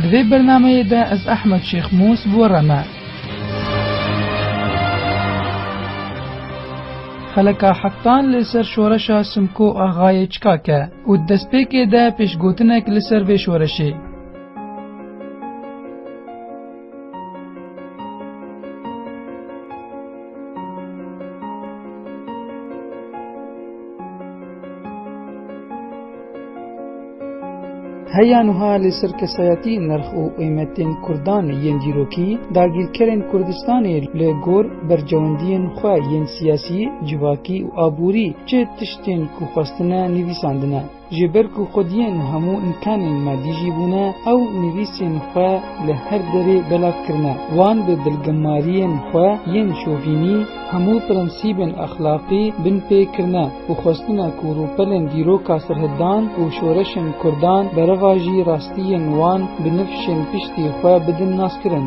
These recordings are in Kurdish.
Di vê bernameyê de ez Ehmed Şêx Mûs bi we re me. Xeleka Hektan li ser şoreşa Simko Axayê çika ke û di destpêkê de pêşgotinek li ser vê şoreşê. Heya nuha li ser kesayatî nirx û qîmetên Kurdan yên dîrokî dagîrkerên Kurdistanê li gor bercewendiyên xwe yên siyasî, civakî û aborî çi tiştên ku xwestine nivîsandine. Ji ber ku xwediyên hemû înkanên me dijî bûne, ew nivîsên xwe li her derê belav kirine. Wan bi dilgemariyên xwe yên şovînî, hemû prensîbên exlaqî bin pê kirine û xwestina ku rûpelên dîroka serhildan û şoreşên kurdan bereva jî rastiyên wan bi nifşên piştî xwe bidin naskirin.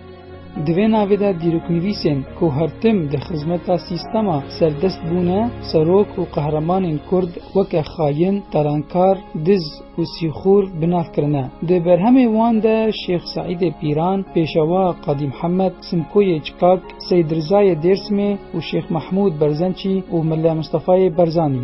Di vê navê de dîroknivîsên ku her tim di xizmeta sîstema serdest bûne, serok û qehremanên Kurd weke xayin, qerankar, diz û sîxûr bi nav kirine. Di berhemê wan de Şêx Seîdê Pîran, Pêşewa Qadî Mihemed, Simkoyê Çikak, Seîd Rizayê Dêrsimê û Şêx Mehmûd Berzençî û Mele Mistefayê Barzanî,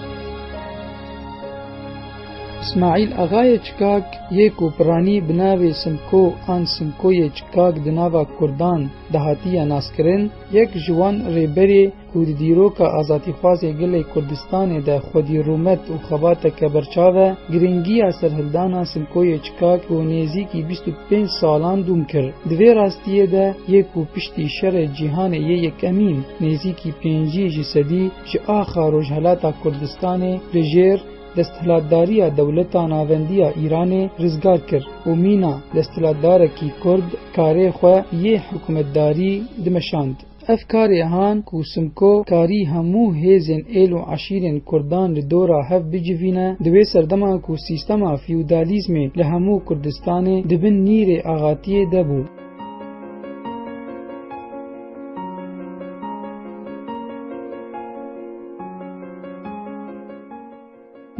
Smaîl Axayê Çikak yê ku piranî bi navê Simko an Simkoyê Çikak di nava Kurdan de hatiye naskirin, yek ji wan rêberê ku di dîroka azadîxwazê gelê Kurdistanê de xwedî rûmet û xebateke berçav e, girîngiya serhildana Simkoyê Çikak bo nêzîkî bîst û pênc salan dûm kir. Di vê rastiyê de yê ku piştî Şerê Cîhanê yê Yekemîn nêzîkî pêncî ji sedî, ji axa Rojhilata Kurdistanê li jêr desthilatdariya dewleta navendiya Îranê rizgar kir û mîna desthilatdarekî Kurd karê xwe yê hikûmetdarî dimeşand. Ev karê han ku Simko karî hemû hêzên êl û eşîrên Kurdan li dora hev bicivîne di wê serdema ku sîstema feodalîzmê li hemû Kurdistanê di bin nîrê axatiyê de bû.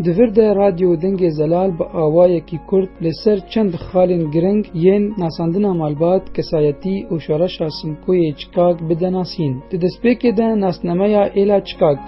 Di vir de Radyo Dengê Zelal bi awayekî kurt li ser çend xalên giring yên nasandina malbat, kesayetî û şoreşa Simkoyê Çikag bide nasîn. Di destpêkê de nasnameya Êla Çikag.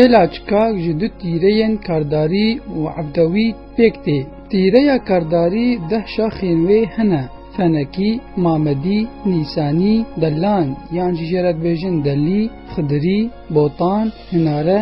Êlaçka ji du tîreyên kardarî û evdewî pêk tê. Tîreya kardarî deh şaxên wê hene, fenekî, mamedî, nîsanî, delan yan jî jê re dibêjin delî, xidirî, botan, hinare,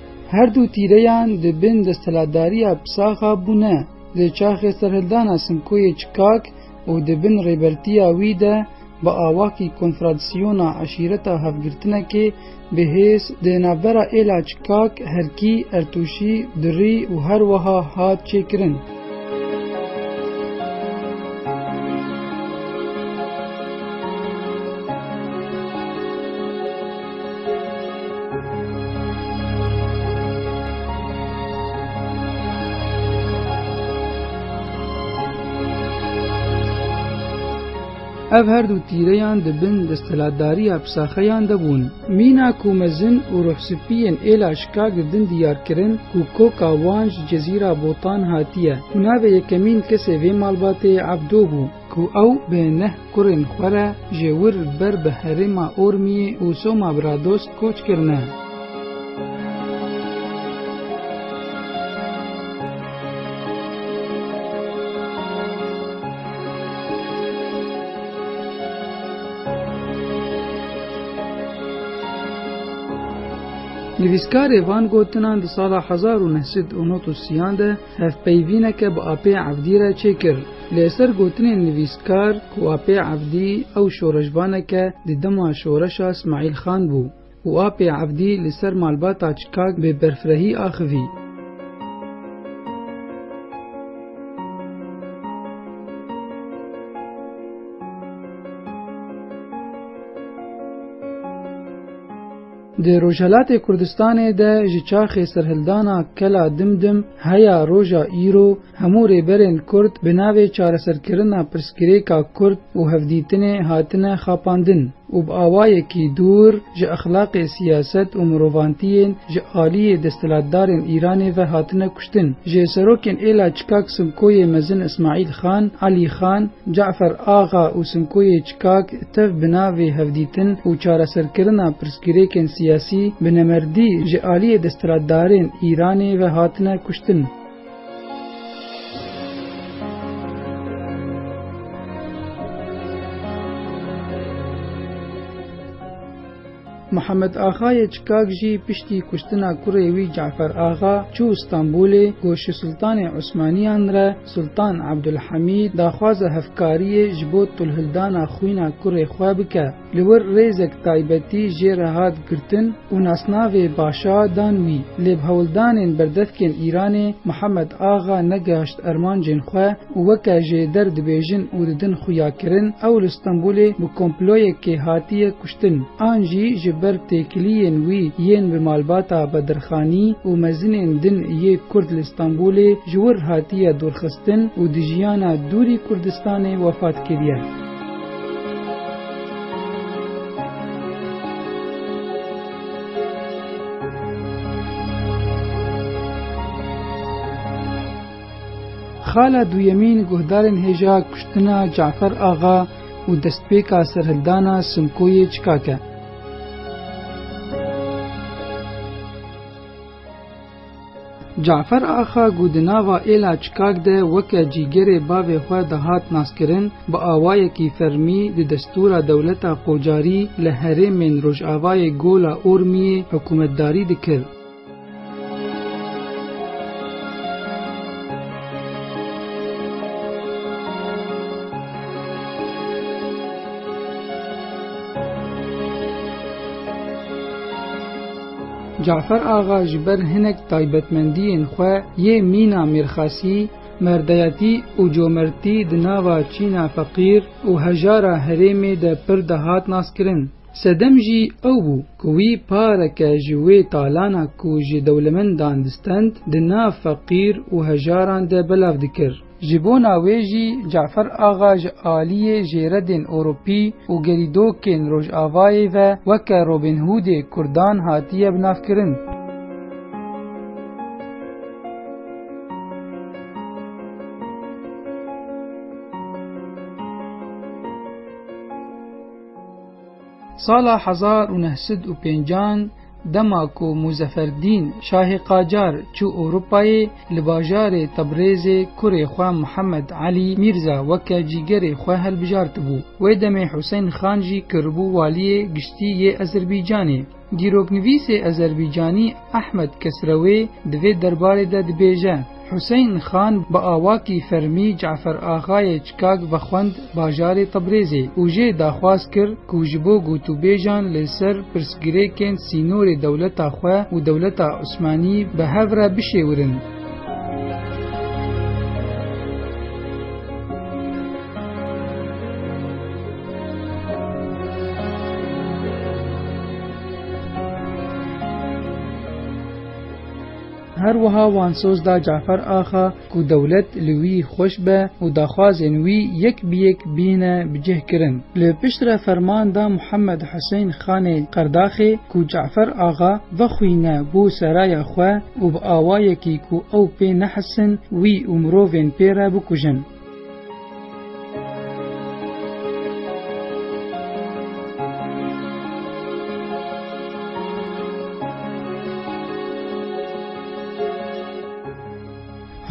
Her du tîreyan di bin desthilatdariya Psaxa bûne, di çaxê serhildana Simkoyê Çikak û di bin rêbertiya wî de bi awakî konfradsiyona eşîreta hevgirtinekê bi hêz di navbera êla Çikak, Herkî, Ertûşî, Durî û her wiha hat çêkirin. Ev her du tîreyan di bin desthilatdariya psaxeyan de bûn. Mîna ku mezin û ruhsipiyên êla şikak di din diyar kirin ku koka wan ji cezîra Botan hatiye û navê yekemîn kesê vê malbatê Ebdo bû. Ku ew bi neh kurên xwe re ji wir ber bi herêma Ormiyê û Soma Bradost koç kirine. Nivîskarê van gotinan di sala hezar û neh sed û nod û sî yan de, Hevpeyvîneke bi apê evdî re çêkir. Li ser gotinên nivîskar ku apê evdî ew şoreşvaneke di dema şoreşa Smaîl Xan bû û apê evdî li ser malbata Çikag bi berfirehî axivî. Di Rojhelatê Kurdistanê de ji çaxê serhildana Kela Dimdim heya roja îro hemû rêberên Kurd bi navê çareserkirina pirsgirêka Kurd û hevdîtinê hatine xapandin û bi awayekî dûr ji exlaqê siyaset û mirovantiyên ji aliyê desthilatdarên Îranê ve hatine kuştin. Ji serokên êla çikak Simkoyê Mezin Ismaîl Xan, Elî Xan, Cafer Axa û Simkoyê Kak tev bi navê hevdîtin û çareserkirina pirsgirêkên siyasî bi nemerdî ji aliyê desthilatdarên Îranê ve hatine kuştin. Mihemed Axayê Çikak jî piştî kuştina kurê wî Cafer Axa çû Stenbolê, ku şû Sultanê Osmaniyan re, Sultan Abdulhamîd, daxwaza hevkariyê ji bo tolhildana xwîna kurê xwe bike. Li wir rêzek taybetî jê re hat girtin û nasnavê Başa dan wî. Lê bi hewldanên berdevkên Îranê Mihemed Axa negehaşt ermancên xwe, û weke ji der dibêjin û didin xuyakirin ew li Stenbolê bi komployekê hatiye kuştin an jî ji ber têkiliyên wî yên bi malbata Bedirxanî û mezinên din yê Kurd li Stenbolê ji wir hatiye dûrxistin û di jiyana dûrî Kurdistanê wefat kiriye. Xala duyemîn guhdarên hêja kuştina Cafer Axa û destpêka serhildana Simkoyê Çikak e. Cafer Axa ku di nava êla Çikak de weke cîgerê bavê xwe dihat naskirin, bi awayekî fermî di destûra dewleta Qocarî li herêmên rojavayê Gola Ormiyê hikûmetdarî dikir. Cafer Axa ji ber hinek taybetmendiyên xwe yê mîna mêrxasî, merdayatî û comertî di nava çîna feqîr û hejara herêmê de pir dihat naskirin. Sedem jî ew bû ku wî pareke ji wê talana ku ji dewlemendan distend di nav feqîr û hejaran de belav dikir. Ji bona wê jî Cafer Axa ji aliyê jêredên Ewropî û gerîdokên Rojavayê ve weke Robin Hoodê Kurdan hatiye binavkirin. Sala hezar û neh sed û pêncan dema ku Muzeferdîn Şahê Qacar çû Ewropayê li bajarê Tebrêzê kurê xwe Mihemed Elî Mîrza weke cîgerê xwe hilbijartibû. Wê demê Huseyn Xan jî kiribû waliyê giştî yê Ezerbaycanê. Dîroknivîsê Ezerbîcanî Ehmed Kesrewê di vê derbarê de dibêje, Huseyn Xan bi awakî fermî Cafer Axayê Çikag vexwend bajarê Tebrêzê û jê daxwaz kir ku ji bo gotûbêjan li ser pirsgirêkên sînorê dewleta xwe û dewleta Osmanî bi hev re bişêwirin. Her wiha wan soz da Cafer Axa ku dewlet li wî xweş be û daxwazên wî yek bi yek bîne bi cih kirin. Li piştre ferman da Muhammed Huseyn Xanê Qerdaxê ku Cafer Axa, Vexwîne bo seraya xwe û bi awayekî ku ew pê nehesin wî û mirovên pê re bikujin.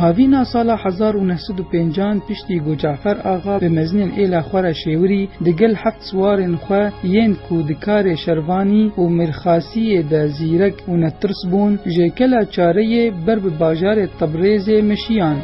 Havîna sala hezar û neh sed û pêncan piştî ku Cafer Axa bi mezinên êla xwe re Şêwirî di gel heft siwarên xwe yên ku di karê Şervanî û Mîrxasîyê de zîrek û netirs bûn jêkela Çareyê ber bi bajarê Tebrêzê meşiyan.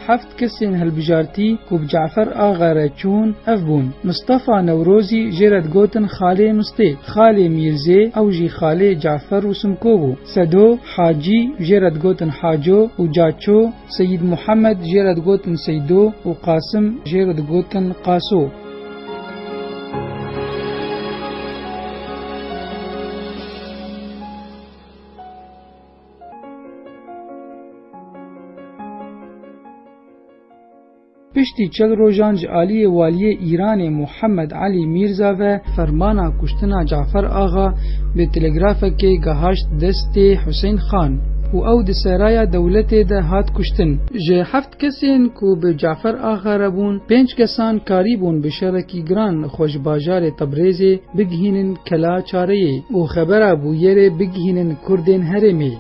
Heft kesên hilbijartî ku bi Cafer Axa re çûn ev bûn, Mistefa Newrozî jê re digotin Xalê Mistê, Xalê Mîrzê ew jî xalê Cafer û Simko bû, Sedo, Hacî jê re digotin Haco û Caço, Seyîd Muhemed jê re digotin Seydo û Qasim jê re digotin Qaso. Piştî çil rojan ji aliyê Waliyê Îranê Muhammed Elî Mîrza ve fermana kuştina Cafer Axa bi telegrafekê gehaşt destê Husên Xan û ew di seraya dewletê de hat kuştin. Ji heft Kesên ku bi Cafer Axa re bûn, pênc kesan karî bûn bi şerekî giran xwe ji bajarê Tebrêzê bigihînin Kela Çareyê û xebera bûyerê bigihînin kurdên herêmê.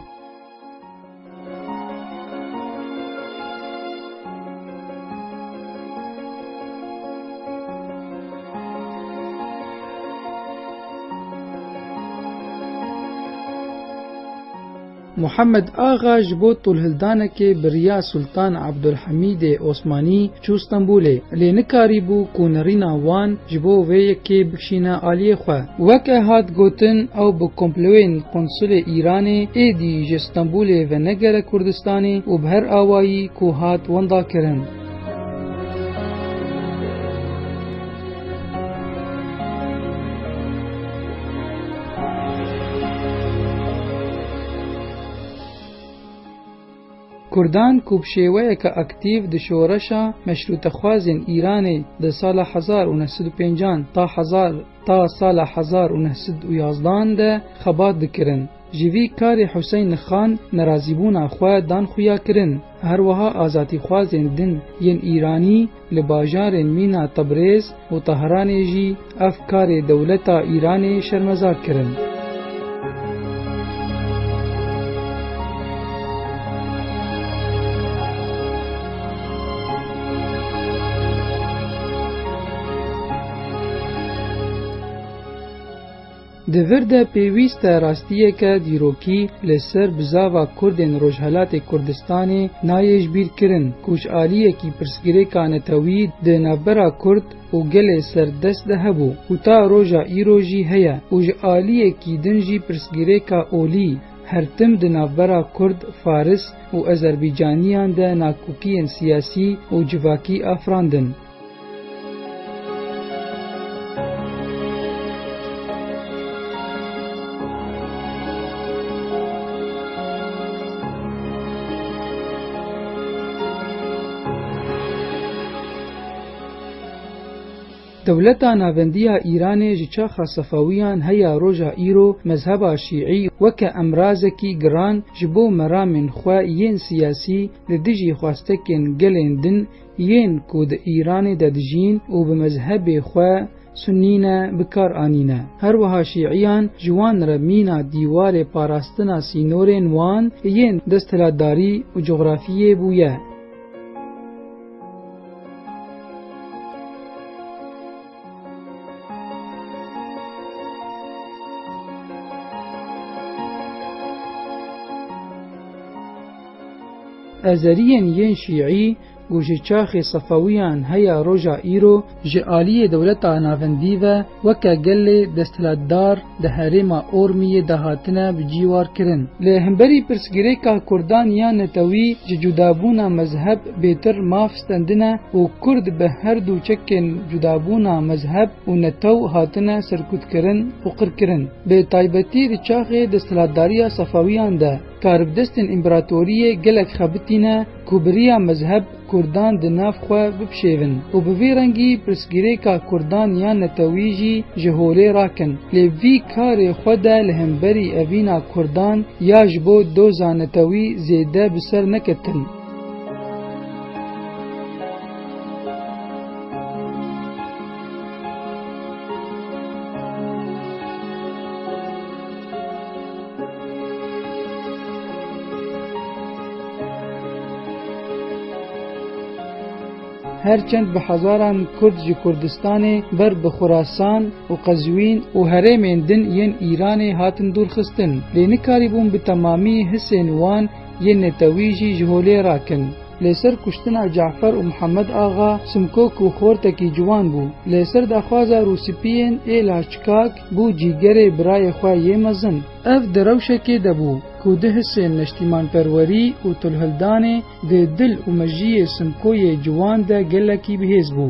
Muhammed Axa ji bo tûlhildanekê bi riya Sultan Abdulhamîdê Osmanî çû Stenbolê, lê nikarîbû ku nirîna wan ji bo vê yekê bikişîne aliyê xwe. Weke hat gotin ew bi komplewên qonsulê Îranê êdî ji Stenbolê venegere Kurdistanê û bi her awayî ku hat wenda kirin. Kurdan ku bi şêweyeke aktîv di şoreşa meşrûtexwazên Îranê di sala hezar û neh sed û pêncan ta hezar ta sala hezar û neh sed û yazdan de xebat dikirin, Ji vî karê Huseyni Xan nerazîbûna xwe dan xuya kirin. Her wiha azadîxwazên din yên Îranî li bajarên mîna Tebrêz û Tehranê jî ev karê dewleta Îranê şermezar kirin. Di vir de pêwîst e rastiyeke dîrokî li ser bizava Kurdên Rojhelatê Kurdistanê nayê ji bîr kirin ku ji aliyekî pirsgirêka netewî di navbera Kurd û gelê ser dest de hebû û ta roja îro jî heye û ji aliyekî din jî pirsgirêka olî her tim di navbera Kurd, Faris û Ezerbîcaniyan de nakokiyên siyasî û civakî afirandin. Dewleta navendî ya Îranê ji çaxa Sefewîyan heya roja îro mezheba Şîî weke emrazekî giran ji bo meramên xwe yên siyasî li dijî xwestekên gelên din Yên ku di Îranê de dijîn û bi mezhebê xwe Sunnî ne bi kar anîne. Her wiha Şîîyan ji wan re mîna dîwarê parastina sînorên wan yên desthilatdarî û cografiyê bûye. Azeriyên yên Şîî ku ji çaxê Sefewiyan heya roja îro ji aliyê dewleta navendî ve weke gelê desthilatdar di herêma Ormiyê de hatine bi cî war kirin. Li hemberî pirsgirêka Kurdan ya netewî ji cudabûna mezheb bêtir maf stendine û Kurd bi her du çekên cudabûna mezheb û netew hatine serkutkirin û qirkirin. Bi taybetî di çaxê desthilatdariya Sefewiyan de, Karibdestên împeratoriyê gelek xebitîne ku bi riya mezheb Kurdan di nav xwe bipşêvin û bi vî rengî pirsgirêka Kurdan yan netewî jî ji holê rakin. Lê vî karê xwe de li hemberî evîna Kurdan ya ji bo doza netewî zêde bi ser neketin. her çend bi hezaran Kurd ji Kurdistanê ber bi Xurasan û Qezwîn û herêmên din yên Îranê hatin dûrxistin, lê nikarîbûn bi temamî hisên wan yên netewî jî ji holê rakin. Lê ser kuştina Cafer û Mihemed Axa Simkok û xortekî ciwan bû. Lê ser daxwaza Rûspiyên ê Laçkak Bû cîgerê birayê xwe yê mezin. Ev di rewşekê de bû ku di hisên neştîmanperwerî û tulhildanê di dil û mejiyê Simkoyê ciwan de gelekî bihêz bû.